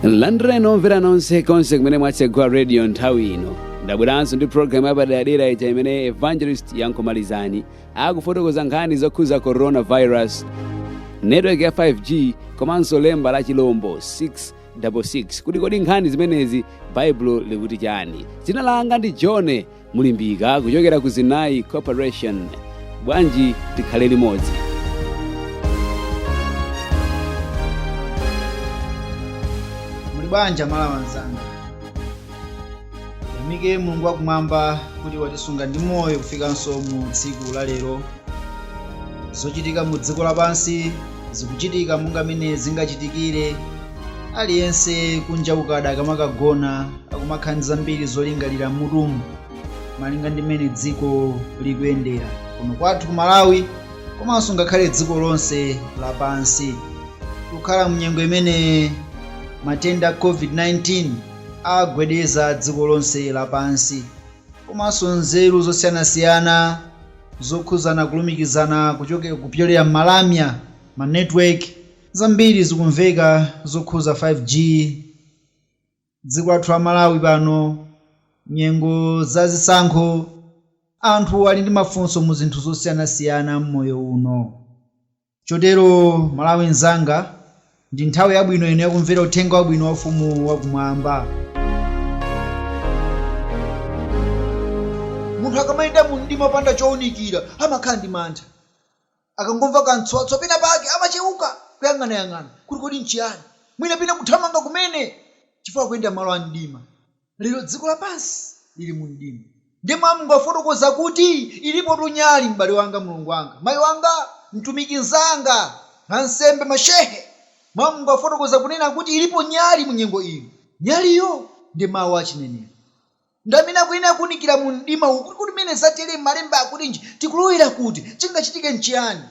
landireni omvera nonse konse kumene mwatsegula radio nthawi ino ndabweranso ndi programu yapaderadera ija imene evangelist yankomalizani akufotokoza nkhani zokhuza coronavirus network ya 5g komanso lemba la chilombo 666 kuti kodi nkhani zimenezi baibulo likuti chani dzina langa ndi john mulimbika kuchokera ku zinayi corporation bwanji tikhale limodzi muli bwanji amalawi anzanga tiyamike mulungu wakumwamba kuti watisunga ndi moyo kufikanso mu tsiku la lero zochitika mu dziko lapansi zikuchitika monga mene zingachitikire aliyense kunja kukada akamakagona akumakhala ndi zambiri zolingalira mmutumu malinga ndi mmene dziko likuyendera kuno kwathu ku malawi komanso ngakhale dziko lonse lapansi tikukhala mnyengo imene matenda a covid-19 agwedeza dziko lonse lapansi komanso nzeru zosiyanasiyana zokhuzana kulumikizana kuchoke kupyolera m'malamya ma network zambiri zikumveka zokhuza 5g Dziko lathu la Malawi pano nyengo za zisankho anthu ali ndi mafunso mu zinthu zosiyanasiyana m'moyo uno. Chotero Malawi nzanga ndi nthawi yabwino ino yakumvera uthenga wabwino wa ufumu wakumwamba. Munthu akamayenda mu mdima opanda chounikira amakhala ndi mantha. Akangomva kamtswatswa penapake, amacheuka, kuyang'anayang'ana kuti kodi n'chiyani, mwinamwina kuthamanga kumene chifukwa akuyenda m'malo a mdima. Lero dziko lapansi lili mu mdima. Ndiye Mawu a Mulungu akufotokoza kuti, Ilipotu nyali, m'bale wanga, mlongo wanga, mayi wanga, mtumiki mnzanga, ansembe, mashehe. Mawu a Mulungu akufotokoza kunena kuti ilipo nyali mu nyengo ino. Nyaliyo ndi Mawu a chinenero. Ndi amene akuyenera kuunikira mu mdima uwu, kuti kodi pamene zatere malemba akutinji, tikulowera kuti, chingachitike nchiyani?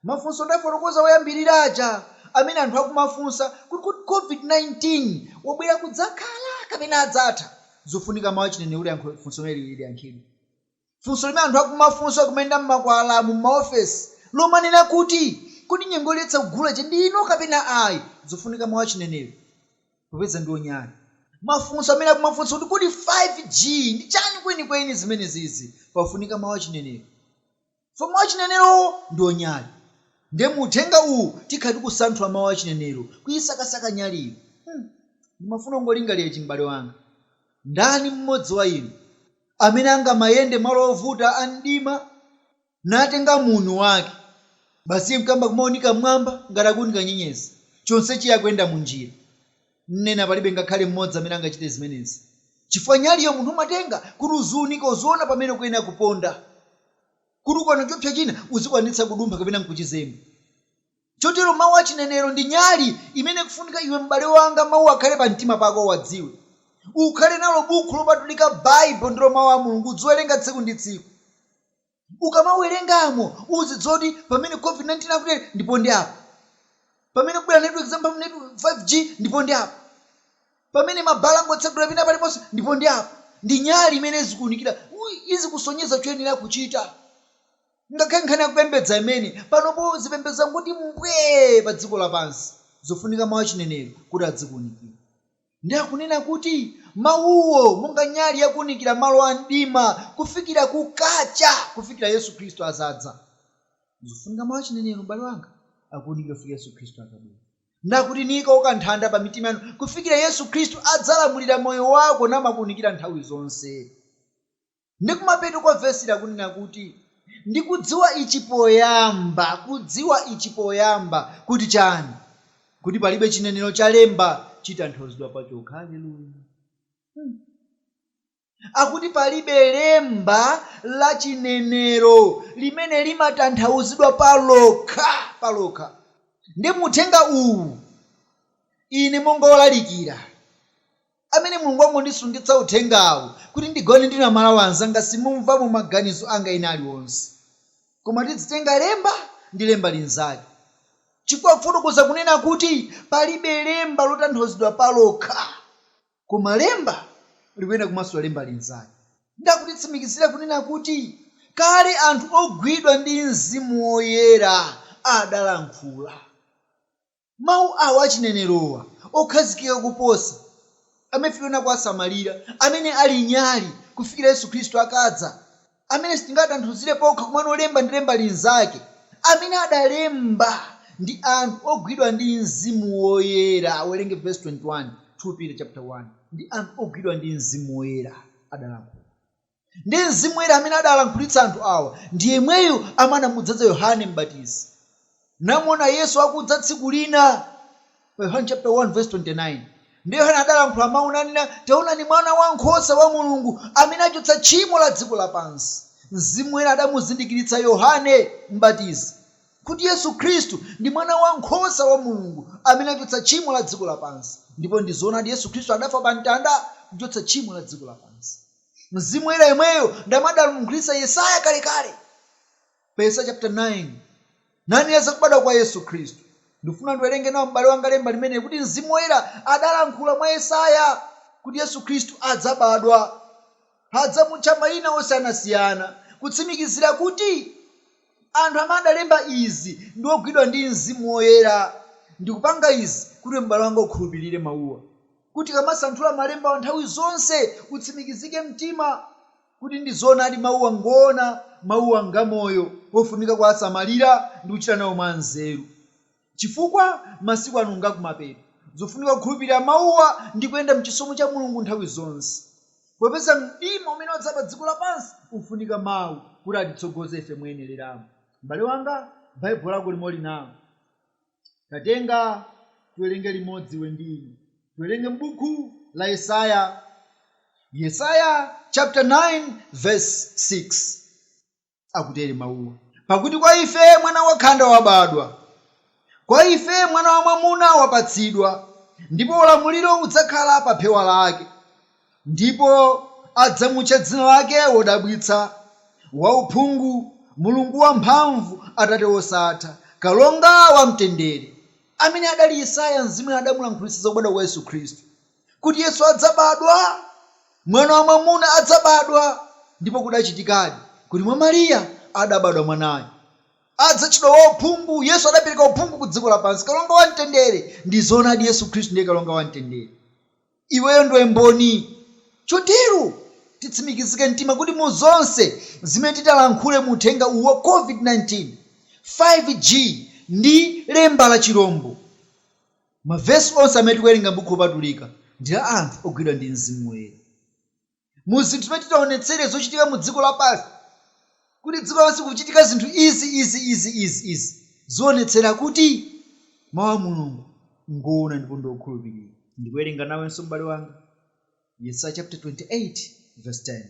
Mafunso ndafotokoza oyambirira aja amene anthu akumafunsa kuti kodi Covid-19 wabwera kudzakhala kapena adzatha? Zofunika mawu achinenero kuti yankho funso limeneli liyankhidwe. funso limene anthu akumafunsa kumayenda m'makwalalamu, m'maofesi, lomanena kuti, Kodi nyengo yoletsa kugula ija ndi ino kapena ayi? Zofunika mawu achinenero, popeza ndiwo nyali. Mafunso amene akumafunsa kuti, Kodi 5G ndi chani kwenikweni zimenezizi? Pafunika mawu achinenero, chifukwa mawu achinenerowo ndiwo nyali. Ndiye mu uthenga uwu tikhala tikusanthula mawu achinenero, kuyisakasaka nyaliyo. Hmm, ndimafuna ungolingalira ichi, m'bale wanga. Ndani mmodzi wa inu? amene angamayenda malo ovuta a mdima, natenga muuni wake, basi iye nkuyamba kumawunika mmwamba ngati akuwunika nyenyezi, chonsecho iye akuyenda mu njira. Nnena, palibe ngakhale mmodzi amene angachite zimenezi. Chifukwa, nyaliyo munthu umatenga, kuti uziwunika, uziwona pamene ukuyenera kuponda, kuti ukaona chopsya china, uzikwanitsa kudumpha kapena nkuchizemba. Chotero mawu a chinenero ndi nyali imene ikufunika iwe m'bale wanga mawu akhale pa mtima pako uwadziwe. Ukhale nalo bukhu lopatulika Bible ndilo mawu a Mulungu udziwerenga tsiku ndi tsiku. Ukamawerengamo uzidziwa kuti pamene COVID-19 akutere ndi pa ndime apa. Pamene kubwera network za mphamvu network 5G ndipo ndi apa. Pamene mabhala ngotsegula pena paliponse ndipo ndi apa. Ndi nyali imene izikuunikira izikusonyeza choyenera kuchita. Ngakhale nkhani ya kupembedza imene panopo zipembedzo zangoti mbwee padziko lapansi, zofunika mawu a chinenero kuti adzikuunikire. Ndi akunena kuti, Mawuwo monga nyali yakuunikira malo a mdima kufikira kukacha, kufikira Yesu Kristu azadza. Zofunika mawu a chinenero, m'bale wanga, akuunikira kufikira Yesu Kristu akabwera. Ndi akuti, Nikauka nthanda pa mitima yanu kufikira Yesu Kristu adzalamulira moyo wako namakuunikira nthawi zonse. Ndi kumapeto kwa vesili akunena kuti, Ndi kudziwa ichi poyamba, kudziwa ichi poyamba, kuti chani? kuti palibe chinenero cha lemba chitanthauzidwa pachokha. Aleluya! Hmm. Akuti palibe lemba la chinenero limene limatanthauzidwa palokha, palokha. Ndi mu uthenga uwu, ine monga wolalikira, amene Mulungu wangondisungitsa uthengawu kuti ndigawane ndi Amalawi anzanga simumvamo maganizo anga ena aliwonse koma tidzitenga lemba ndi lemba linzake chifukwa akufotokoza kunena kuti palibe lemba lotanthauzidwa palokha koma lemba likuyenera kumasula lemba linzake ndakutitsimikizira kunena kuti kale anthu ogwidwa ndi mzimu woyera adalankhula. Mawu awo a chinenero'wa, okhazikika koposa, amene ife tiyenera kuwasamalira, amene ali nyali kufikira Yesu Kristu akadza, amene sitingawatanthauzire pokha komano lemba ndi lemba linzake, amene adalemba ndi anthu ogwidwa ndi Mzimu Woyera, werenga vesi 21, 2 Peter chaputala 1, ndi anthu ogwidwa ndi Mzimu Woyera adalankhula. Ndiye Mzimu Woyera amene adalankhulitsa anthu awa ndi yemweyu amene anamudzadza Yohane Mbatizi. Namuona Yesu akudza tsiku lina, pa Yohane chaputala 1 vesi 29 Ndiye Yohane adalankhula mau nanena, Taonani Mwana wa Nkhosa wa Mulungu, amene achotsa tchimo la dziko lapansi. Mzimu Woyera adamuzindikiritsa Yohane Mbatizi kuti Yesu Khristu ndi Mwana wa Nkhosa wa Mulungu amene achotsa tchimo la dziko lapansi. Ndipo ndi zoonadi Yesu Khristu adafa pa mtanda kuchotsa tchimo la dziko lapansi. Mzimu woyera yemweyo ndi amene adalankhulitsa Yesaya kalekale pa Yesaya chapter 9, nanena za kubadwa kwa Yesu Khristu. Ndikufuna ndiwerenge nawo m'bale wanga lemba limeneli kuti Mzimu Woyera adalankhula mwa Yesaya kuti Yesu Khristu adzabadwa. Adzamutcha maina osiyanasiyana kutsimikizira kuti anthu amene adalemba izi ndi ogwidwa ndi Mzimu Woyera. Ndikupanga izi kuti iwe m'bale wanga ukhulupirire mauwa. kuti ukamasanthula malembawa nthawi zonse utsimikizike mtima kuti ndi zoonadi mauwa ngoona, mauwa ngamoyo, ofunika kuwasamalira ndi kuchita nawo mwa nzeru chifukwa masiku ano ngakumapeto. Zofunika kukhulupirira mauwa ndi kuyenda mchisomo cha Mulungu nthawi zonse popeza mdima umene wadza pa dziko lapansi ufunika mau kuti atitsogoze ife moyenereramo. M'bale wanga, Baibulo lako limo uli nalo. Tatenga, tiwerenge limodzi iwe ndi ine. Tiwerenge m'buku la Yesaya, Yesaya chapter 9 verse 6. Akutere mawuwa, pakuti kwa ife mwana wakhanda wabadwa, kwa ife mwana wamwamuna wapatsidwa, ndipo ulamuliro udzakhala pa phewa lake, Ndipo adzamutcha dzina lake Wodabwitsa, Wauphungu, Mulungu Wamphamvu, Atate Wosatha, Kalonga wa Mtendere. Ameneyo adali Yesaya, Mzimu Woyera adamulankhulitsa za kubadwa kwa Yesu Khristu, kuti Yesu adzabadwa, Mwana wa mwamuna adzabadwa, ndipo kudachitikadi, kuti mwa Maria adabadwa mwanayo. Adzatchedwa Wauphungu, Yesu adapereka uphungu ku dziko lapansi, Kalonga wa Mtendere, ndi zoonadi Yesu Khristu ndiye Kalonga wa Mtendere. Iweyo ndiwe mboni. Chotero, titsimikizike mtima kuti mu zonse zimene titalankhule mu uthenga uwu wa COVID-19, 5G, ndi lemba la chilombo, mavesi onse amene tikuwerenga m'Buku Lopatulika ndi la anthu ogwidwa ndi Mzimu Woyera. mu zinthu zimene titaonetsere zochitika mu dziko lapansi kuti dziko lapansi kuchitika zinthu izi izi izi izi izi zoonetsera kuti mau a Mulungu ngoona ndipo ndi okhulupirika. Ndikuwerenga nawenso m'bale wanga Yesaya chaputala 28 vesi 10.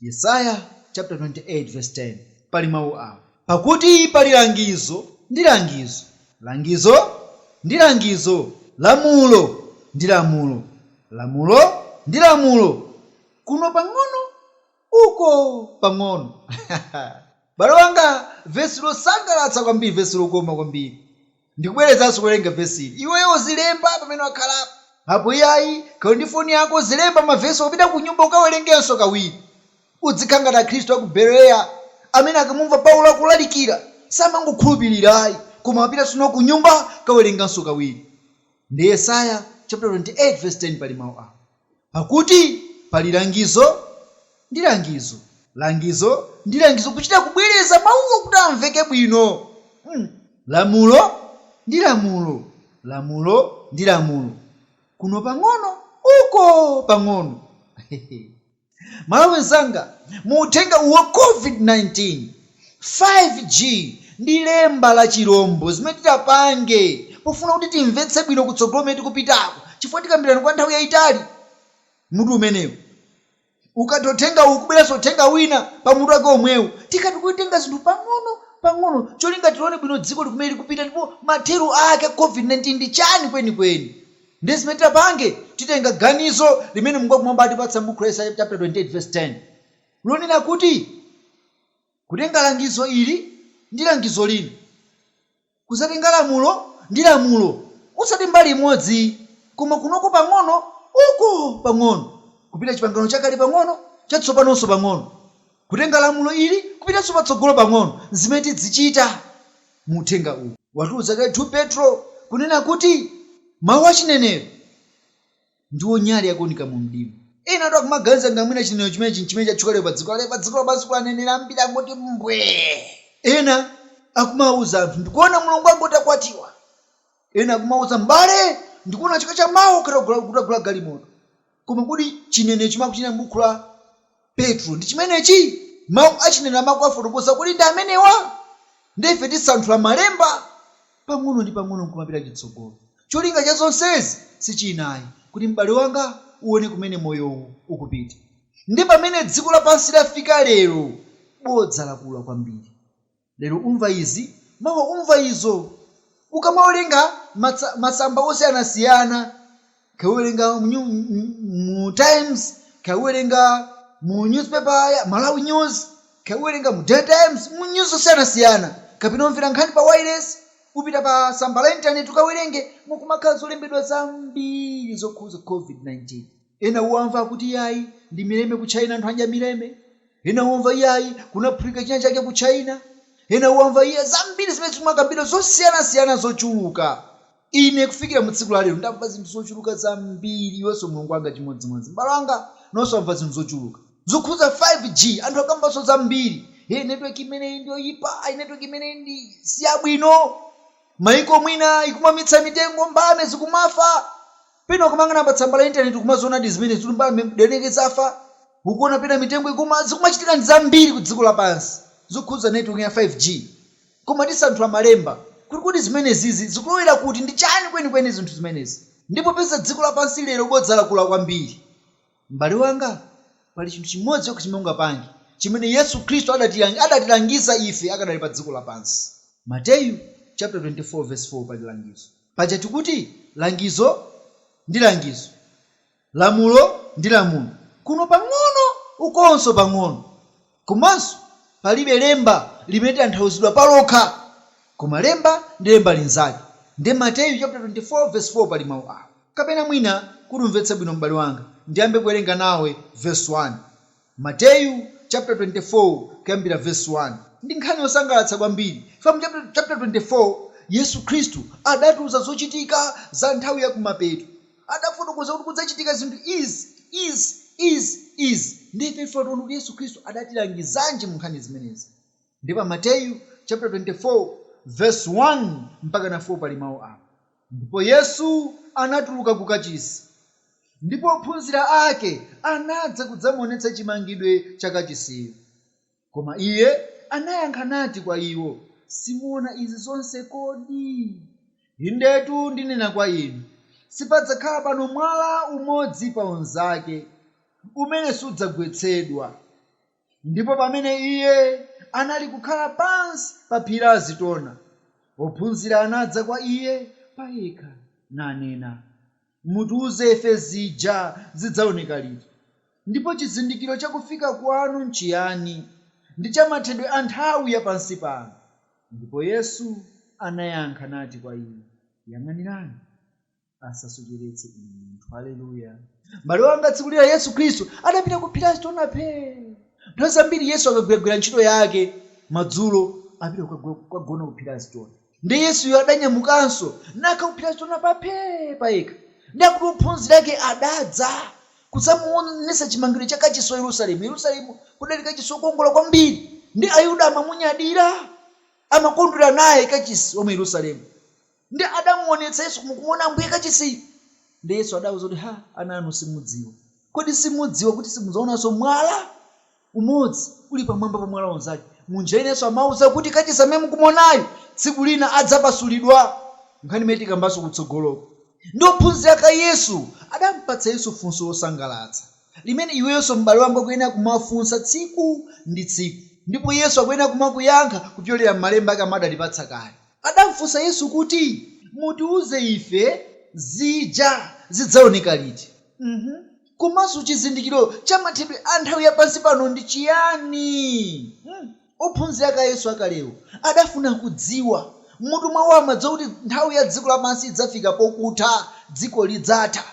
Yesaya chaputala 28 vesi 10 pali mau awa. Pakuti pali langizo ndi langizo, langizo ndi langizo, lamulo ndi lamulo, lamulo ndi lamulo, kuno pang'ono, uko pang'ono. Ha, ha! M'bale wanga, vesi losangalatsa kwambiri, vesi lokoma kwambiri! Ndikubwerezanso, kuwerenga vesi ili. Iweyo uzilemba pamene wakhalapo. Apo iyayi, kaya uli ndi foni yako, uzilemba mavesiwa ukapita kunyumba ukawerengenso kawiri. Udzikhala ngati Akhristu a ku Bereya amene akamumva Paulo akulalikira, samangokhulupirira ayi, koma amapitanso nawo kunyumba kawerenganso kawiri. Ndi Yesaya chaputala 28 vesi 10 pali mawu awa. Pakuti pali langizo ndi langizo, langizo ndi langizo, kuchita kubwereza mawuwo kuti amveke bwino, mm, lamulo ndi lamulo, lamulo ndi lamulo, kuno pang'ono, uko pang'ono. Hehe. M'malawi nzanga mu uthenga uwu wa covid 19, 5G ndi lemba la chirombo zimene titapange pofuna kuti timvetse bwino kutsogolo kumene tikupitako chifukwa tikambirana kwa nthawi yayitali mutu umenewu. Ukatha uthenga uwu ukubweranso uthenga wina pa mutu wake omwewu. Tikhala tikutenga zinthu pang'ono pang'ono cholinga tione bwino dzikoli kumene likupita ndipo mathero ake a covid 19 ndi chani kwenikweni. Ndiye zimene titapange, titenga ganizo limene Mulungu wakumwamba watipatsa m'buku la Yesaya chaputala 28 vesi 10, lonena kuti kutenga langizo ili ndi langizo lina, kudzatenga lamulo ndi lamulo, osati mbali imodzi, koma kunoko pang'ono, uko pang'ono, kupita Chipangano Chakale pang'ono, Chatsopanonso pang'ono, kutenga lamulo ili kupitanso patsogolo pang'ono, n'zimene tidzichita. Mu uthenga uwu watiuza kale 2 Petro kunena kuti mawu a chinenero ndiwo nyali yakuunika mu mdima. Enatu akumaganiza ngati mwina chinenero chimenechi n'chimene chatchuka lero padziko lake. Padziko lapansi kuli aneneri ambiri angoti mbwee. Ena akumauza anthu, Ndikuona Mulungu angoti akwatiwa. Ena akumauza, M'bale, ndikuona chaka cha mawa ugula galimoto. Koma kodi chinenero chimene akuchinena m'buku la Petro ndi chimenechi? Mawu a chinenero amene akuwafotokoza kodi ndi amenewa? Ndiye ife tisanthula Malemba pang'ono ndi pang'ono n'kumapita chitsogolo. Cholinga cha zonsezi si china ayi, kuti m'bale wanga uone kumene moyo uwu ukupita. Ndiye pamene dziko lapansi lafika lero, bodza lakula kwambiri. Lero umva izi, mawa umva izo. Ukamawerenga matsa, masamba osiyanasiyana, kaya uwerenga mu, mu Times, kaya uwerenga mu newspaper ya Malawi News, kaya uwerenga mu Daily Times, mu news osiyanasiyana, kapena umvera nkhani pa wailesi, upita pa tsamba la internet ukawerenge, mukumakhala zolembedwa zambiri zokhuza Covid-19. Ena uwamva akuti iyayi ndi mileme ku China anthu adya mileme. Ena uwamva iyayi kunaphulika china chake ku China. Ena uwamva iya zambiri zimene zikumakambidwa zosiyanasiyana zochuluka. Ine kufikira mu tsiku la lero ndamva zinthu zochuluka zambiri iwenso mlongo wanga chimodzimodzi m'bale wanga nawonso wamva zinthu zochuluka zokhudza 5G anthu akambanso zambiri hey network imeneyi ndi yoyipa ayi network imeneyi ndi siyabwino m'mayiko mwina ikumaumitsa mitengo mbalame zikumafa Pena ukamayang'ana pa tsamba la internet ukumazionadi zimenezi mbalame zikufa, ukuona pena mitengo ikuuma, zikumachitikadi zambiri ku dziko lapansi zokhudza network ya 5G. Koma tisanthula malemba kuti kodi zimenezizi zikulowera kuti, ndi chani kwenikweni zinthu zimenezi? Ndipo popeza dziko lapansi lero bodza lakula kwambiri, M'bale wanga, pali chinthu chimodzi chokha chimene ungapange, chimene Yesu Khristu adatilangiza ife akadali pa dziko lapansi. Mateyu chaputala 24 vesi 4 pali langizo. Paja tikuti langizo ndi langizo, lamulo ndi lamulo, kuno pang'ono ukonso pang'ono. Komanso palibe lemba limatanthauzidwa palokha, koma lemba ndi lemba linzake. Nde Mateyu chaputala 24 vesi 4 pali mau awa. Kapena mwina kuti umvetse bwino m'bale wanga, ndiyambe kuwerenga nawe vesi 1. Mateyu chaputala 24 kuyambira vesi 1. Ndi nkhani yosangalatsa kwambiri chifukwa mu chaputala 24 Yesu Khristu adatiuza zochitika za nthawi ya kumapeto. adafotokoza kuti kudzachitika zinthu izi, izi, izi, izi, ndiye ife tione kuti Yesu Khristu adatilangizanji mu nkhani zimenezi. Ndiye pa Mateyu chaputala 24 vesi 1 mpakana 4 pali mau awa, Ndipo Yesu anatuluka ku kachisi, ndipo ophunzira ake anadza kudzamuonetsa chimangidwe cha kachisiyo. Koma Iye anayankha nati kwa iwo, Simuona izi zonse kodi? Indetu ndinena kwa inu, Sipadzakhala pano mwala umodzi pa unzake, umene sudzagwetsedwa. Ndipo pamene Iye analikukhala pansi pa phiri la Azitona, ophunzira anadza kwa Iye payekha, nanena, Mutiuze ife zija zidzaoneka liti, ndipo chizindikiro cha kufika kwanu nchiyani, ndi cha mathedwe a nthawi ya pansi pano? Ndipo Yesu anayankha nati kwa iwo, Yang'anirani, asasocheretse inu munthu. Haleluya! Mbale wanga, tsiku lina Yesu Khristu adapita ku phiri la Azitona phee. Nthawi zambiri Yesu akagwiragwira ntchito yake madzulo, apita kukagona ku phiri la Azitona. Ndiye Yesuyo adanyamukanso, nakakhala ku phiri la Azitona phee pa yekha. Ndiye akuti ophunzira ake adadza kudzamuwonetsa chimangidwe cha kachisi wa Yerusalemu. Yerusalemu kudali kachisi wokongola kwambiri, ndiye Ayuda amamunyadira, amakondwera naye kachisi wa mu Yerusalemu. Ndiye adamuwonetsa Yesu kuti onani Ambuye kachisiyu. Ndiye Yesu adawauza kuti, Ha, ana inu simudziwa! Kodi simudziwa kuti simudzaonanso mwala? Umodzi uli pamwamba pa mwala unzake. Mu njira ina Yesu amauza kuti kachisi amene mukumuonayu tsiku lina adzapasulidwa. Nkhani imene tikambanso kutsogoloku. Ndi ophunzira ake a Yesu adampatsa Yesu funso losangalatsa limene iweyonso m'bale wanga ukuyenera kumafunsa tsiku ndi tsiku ndipo Yesu akuyenera kumakuyankha kupyolera m'malemba ake amene adatipatsa kale. Adamfunsa Yesu kuti, Mutiuze ife, zija zidzaoneka liti? Uhuh. Komanso chizindikiro cha mathedwe a nthawi ya pansi pano ndi chiyani? Hmm. Ophunzira ake a Yesu akalewo adafuna kudziwa. M'mutu mwawo amadziwa kuti nthawi ya dziko lapansi idzafika pokutha, dziko lidzatha.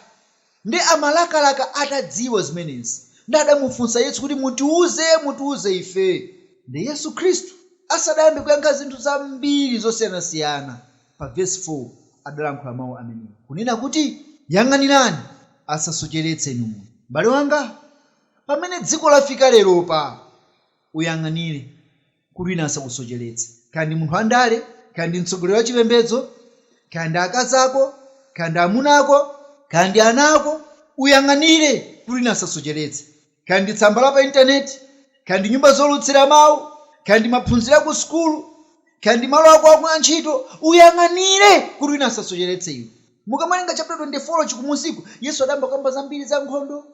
Ndiye amalakalaka atadziwa zimenezi. Ndiye adamufunsa Yesu kuti, Mutiwuze, mutiwuze ife. Ndiye Yesu Khristu asadayambe kuyankha zinthu zambiri zosiyanasiyana. pa vesi 4 adalankhula mau amenewa, kunena kuti, Yang'anirani asasocheretse inu munthu. Mbale wanga, pamene dziko lafika leropa, uyang'anire kuti wina asakusocheretse, kaya ndi munthu wandale, kaya ndi mtsogoleri wachipembedzo, kaya ndi akazi ako, kaya ndi amuna ako, kaya ndi ana ako, uyang'anire kuti wina asasocheretse. kaya ndi tsamba la pa intaneti, kaya ndi nyumba zoulutsira mawu, kaya ndi maphunziro a kusukulu, kaya ndi malo ako akuntchito, uyang'anire kuti wina asasocheretse iwe. Mukamawerenga chaputala 24 chi kumunsiku, Yesu adayamba kukamba zambiri za nkhondo,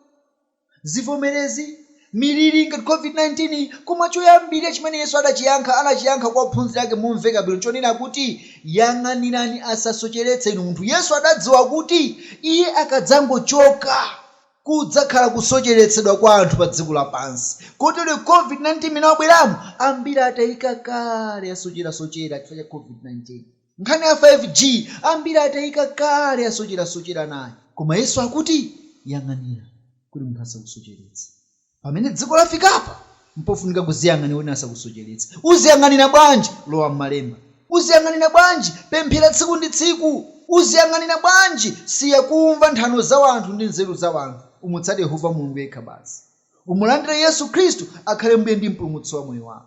zivomerezi, miliri ngati Covid-19 iyi. Koma choyambirira chimene Yesu adachiyankha, anachiyankha kwa ophunzira ake momveka bwino chonena kuti, Yang'anirani asasocheretse inu munthu. Yesu adadziwa kuti Iye akadzangochoka. Kudzakhala kusocheretsedwa kwa anthu pa dziko lapansi kotero covid 19 mmene wabweramu ambiri atayika kale asocherasochera chifukwa cha covid 19. Nkhani ya 5G ambiri atayika kale asocherasochera nayo. Koma Yesu akuti, Yang'anira kuti munthu asakusocheretse. Pamene dziko lafikapa mpofunika kuziyang'anira wina asakusocheretse. Uziyang'anira bwanji? Lowa mmalemba. Uziyang'anira bwanji? Pemphera tsiku ndi tsiku. Uziyang'anira bwanji? Siya kumva nthano za wanthu ndi nzeru za wanthu. Umutsate Yehova Mulungu yekha basi. Umulandire Yesu Khristu akhale mbuye ndi mpulumutsi wa moyo wako.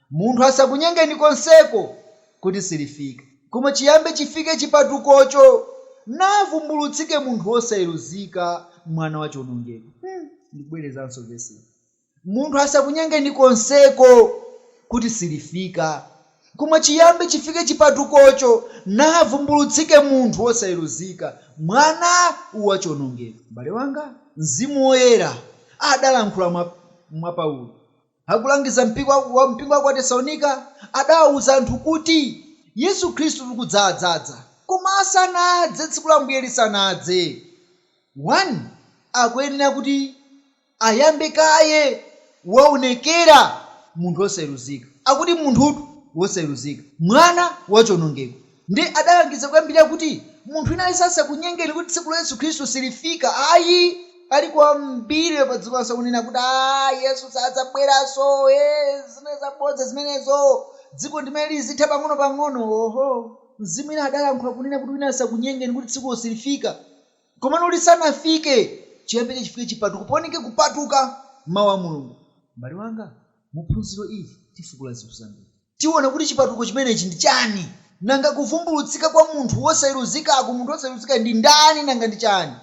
Munthu asakunyengeni konseko kuti silifika. Koma chiyambe chifike chipatukocho, navumbulutsike munthu wosayeruzika, mwana wa chionongeko. Hmm, ndikubwerezanso vesili. Munthu asakunyengeni konseko kuti silifika. Koma chiyambe chifike chipatukocho, navumbulutsike munthu wosayeruzika, mwana wa chionongeko. Mbale wanga, Mzimu Woyera adalankhula mwa Paulo. Akulangiza mpingo wa mpingo wa ku Atesalonika, adawauza anthu kuti Yesu Khristu kudza adzadza, koma asanadze, tsiku la Ambuye lisanadze, 1 akuyenera kuti ayambe kaye waonekera munthu wosayeruzika, akuti munthutu wosayeruzika, mwana wa chionongeko, Nde adalangiza kuyambirira kuti munthu wina aliyense asakunyengeni kuti tsiku la Yesu Khristu silifika ayi. Alipo ambiri lero padziko lapansi akunena kuti aah Yesu sadzabweranso eeh zinali zabodza zimenezo dziko ndimene lizitha pang'ono pang'ono oho mzimu wina adalankhula kunena kuti wina asakunyengeni kuti tsikulo silifika komano lisanafike chiyambire chifike chipatuko paoneke kupatuka mau a Mulungu. M'bale wanga, mu phunziro ili tifukula zinthu zambiri. Tiona kuti chipatuko chimenechi ndi chani. Nanga kuvumbulutsika kwa munthu wosayeruzikaku, munthu wosayeruzikayo ndi ndani nanga ndi chani?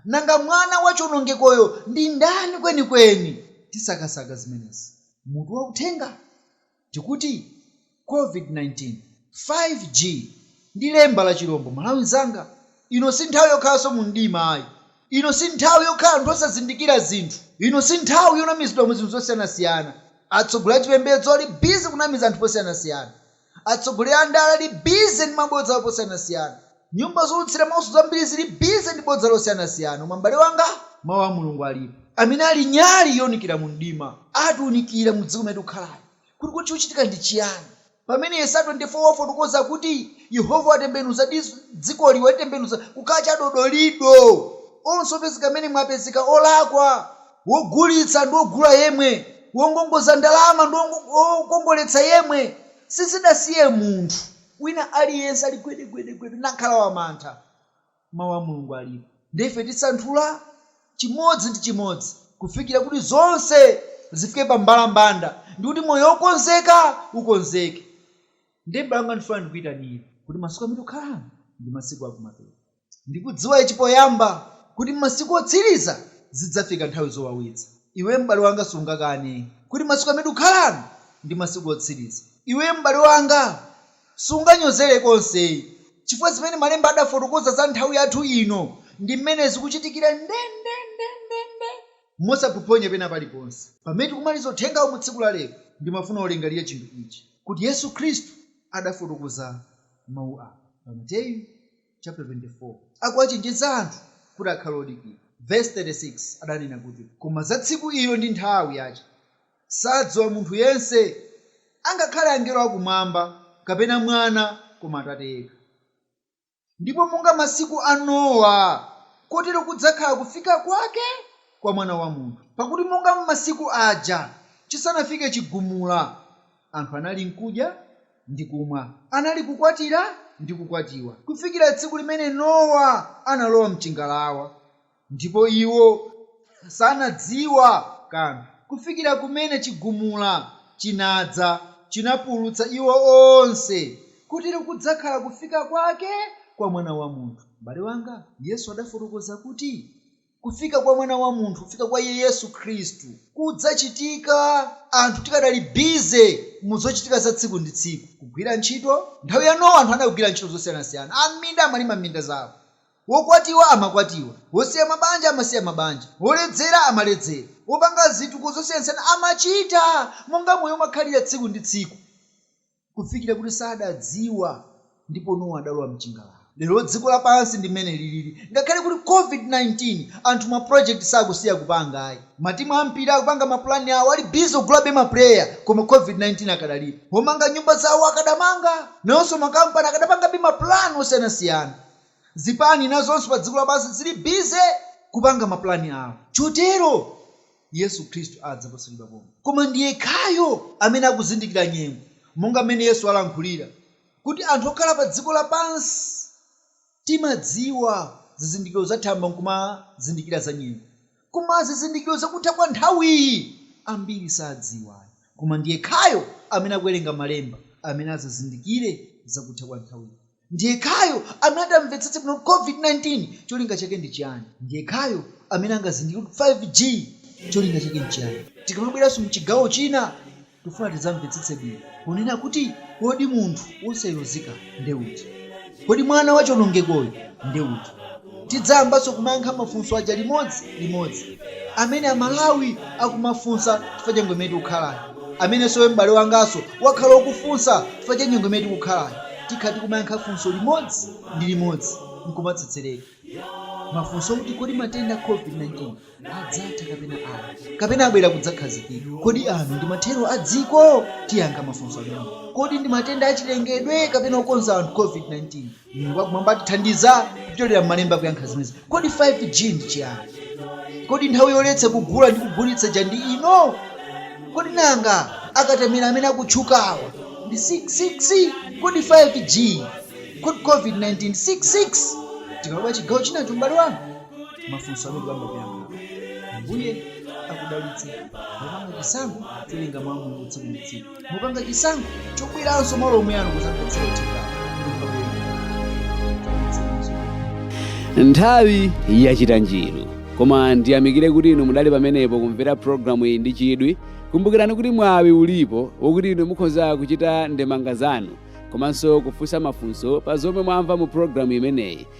Nanga mwana wa chionongekoyo ndi ndani kwenikweni? Tisakasaka zimenezi. Mutu wa uthenga? Tikuti Covid 19. 5G ndi lemba la chirombo. Malawi nzanga, ino si nthawi yokhalanso mu mdima ayi. Ino si nthawi yokhala anthu osazindikira zinthu. Ino si nthawi yonamizidwa mu zinthu zosiyanasiyana. Atsogoleri achipembedzo ali busy kunamiza anthu posiyanasiyana. Atsogoleri a ndale ali busy ndi mabodza awo posiyanasiyana. Nyumba zoulutsira mauso zambiri zili busy ndi bodza losiyanasiyana. Koma m'bale wanga. Mau a Mulungu alipo. Amene ali nyali younikira mu mdima. Atiunikira mu dziko limene tikukhalali. Kuti kodi chikuchitika ndi chiyani? Pamene Yesaya 24 wafotokoza kuti Yehova watembenuza dzikoli, walitembenuza kukhala chadodolido, onse opezeka mmenemo apezeka olakwa, wogulitsa ndi wogula yemwe, wongongoza ndalama ndi wokongoletsa yemwe, sizidasiye munthu wina aliyense ali gwedegwedegwede nakhala wamantha. Mau a Mulungu alipo. Ndiye ife tisanthula chimodzi ndi chimodzi. kufikira kuti zonse zifike pa mbalambanda, ndi kuti moyo wokonzeka ukonzeke. Ndiye m'bale wanga ndifuna ndikuitanire. kuti masiku amene tikukhalamo ndi masiku a kumapeto. Ndikudziwa ichi poyamba, kuti m'masiku otsiriza zidzafika nthawi zowawitsa. Iwe m'bale wanga sungakane kuti masiku amene tikukhalano ndi masiku otsiriza. Iwe m'bale wanga Sunganyozere konse, chifukwa zimene Malemba adafotokoza za nthawi yathu ino ndi mmene zikuchitikira ndendendendende mosaphophonya pena paliponse. Pamene tikumaliza uthengawu mu tsiku la lero, ndimafuna ulingalire chinthu ichi. kuti Yesu Khristu adafotokoza mau awa pa Mateyu chapter 24 akuwachenjeza anthu kuti akhale odikira. Verse 36 adanena kuti, Koma za tsiku ilo ndi nthawi yache. Sadziwa munthu yense, angakhale angelo a Kumwamba, kapena Mwana, koma Atate yekha. Ndipo monga masiku a Nowa, kotero kudzakhala kufika kwake kwa Mwana wa munthu. Pakuti monga m'masiku aja, chisanafike chigumula, anthu analinkudya ndi kumwa, analikukwatira ndi kukwatiwa, kufikira tsiku limene Nowa analowa m'chingalawa, Ndipo iwo sanadziwa kanthu kufikira kumene chigumula chinadza, chinapulutsa iwo onse, kotero kudzakhala kufika kwake kwa Mwana wa munthu. M'bale wanga, Yesu adafotokoza kuti kufika kwa Mwana wa munthu, kufika kwa Iye Yesu Khristu, kudzachitika anthu tikadali busy mu zochitika za tsiku ndi tsiku, kugwira ntchito. Nthawi ya Nowa anthu anagwira ntchito zosiyanasiyana, a m'minda amalima minda zawo, Wokwatiwa amakwatiwa, wosiya mabanja amasiya mabanja, woledzera amaledzera, wopanga zitukuko zosiyanasiyana amachita monga moyo umakhalira tsiku ndi tsiku kufikira kuti sadadziwa ndipo Nowa adalowa mchingalawa. Lero dziko lapansi ndi mmene lilili ngakhale kuli Covid-19 anthu ma project sakusiya kupanga ayi. Matimu ampira akupanga ma plan awo ali busy ogulabe ma player koma Covid-19 akadalipo. Omanga nyumba zawo akadamanga, nawonso ma company akadapangabe ma plan osiyanasiyana. Zipani nazonso pa dziko lapansi ziri bize kupanga mapulani awo. Chotero, Yesu Khristu adza posachedwa pomwe. Koma ndi yekhayo amene akuzindikira nyengo, monga m'mene Yesu alankhulira, kuti anthu okhala pa dziko lapansi timadziwa zizindikiro za thambo nkumazindikira za nyengo, koma zizindikiro za kutha kwa nthawiyi ambiri sadziwa ayi. Koma ndi yekhayo amene akuwerenga malemba amene azazindikire za kutha kwa nthawiyi. Ndi yekhayo amene ati amvetsetse bwino kuti COVID-19 cholinga chake ndi chiyani. Ndi yekhayo amene angazindikire kuti 5G cholinga chake n'chiyani. Tikamabweranso m'chigawo china, tikufuna tidzamvetsetse bwino ponena kuti kodi munthu wosayeruzika ndi uti? Kodi mwana wa chionongekoyu ndi uti? Tidzayambanso kumayankha mafunso aja limodzi limodzi amene a Malawi akumafunsa chifukwa cha nyengo imene tikukhalayi, amenenso iwe m'bale wanganso wakhala ukufunsa chifukwa cha nyengo imene tikukhalayi. Tikhala tikumayankha funso limodzi ndi limodzi nkumatsetsereka mafunso akuti kodi matenda a Covid 19. adzatha kapena ayi, kapena abwera kudzakhazikika. Kodi ano ndi mathero a dziko? Tiyankha mafunso amenewa. Kodi ndi matenda achilengedwe kapena okonza anthu, COVID-19? Mulungu wakumwamba atithandiza kupyolera m'Malemba kuyankha zimenezi. Kodi 5G ndi chiyani? Kodi nthawi yoletsa kugula ndi kugulitsa ija ndi ino? Kodi nanga akatemera amene akutchukawa ndi 666? Kodi 5G? Kodi COVID-19 ndi 666? Tikalowa chigawo chinacho, m'bale wanga. mafunso amene bambo akuyankha mbuye akudalitse mupanga chisankho cholinga mwa mulungu tsiku ndi tsiku mupanga chisankho chobweranso malo omwe ano kuzaphunzira uthenga nthawi yachita njiru koma ndiyamikire kuti inu mudali pamenepo kumvera programu iyi ndi chidwi kumbukirani kuti mwawi ulipo wokuti inu mukhoza kuchita ndemanga zanu komanso kufunsa mafunso pa zomwe mwamva mu programu imeneyi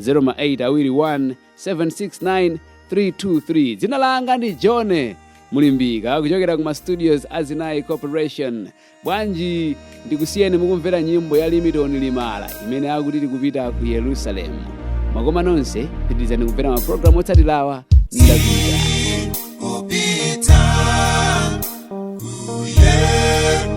0 ma 8 awiri 1 769 323 dzina langa ndi john mulimbika kuchokera ku ma studios a zinayi corporation bwanji ndikusiyeni mukumvera nyimbo ya limitoni limala imene akuti tikupita ku yerusalemu zikomo nonse pitirizani kumvera mapulogalamu otsatirawa ndapita kupita ku Yerusalemu.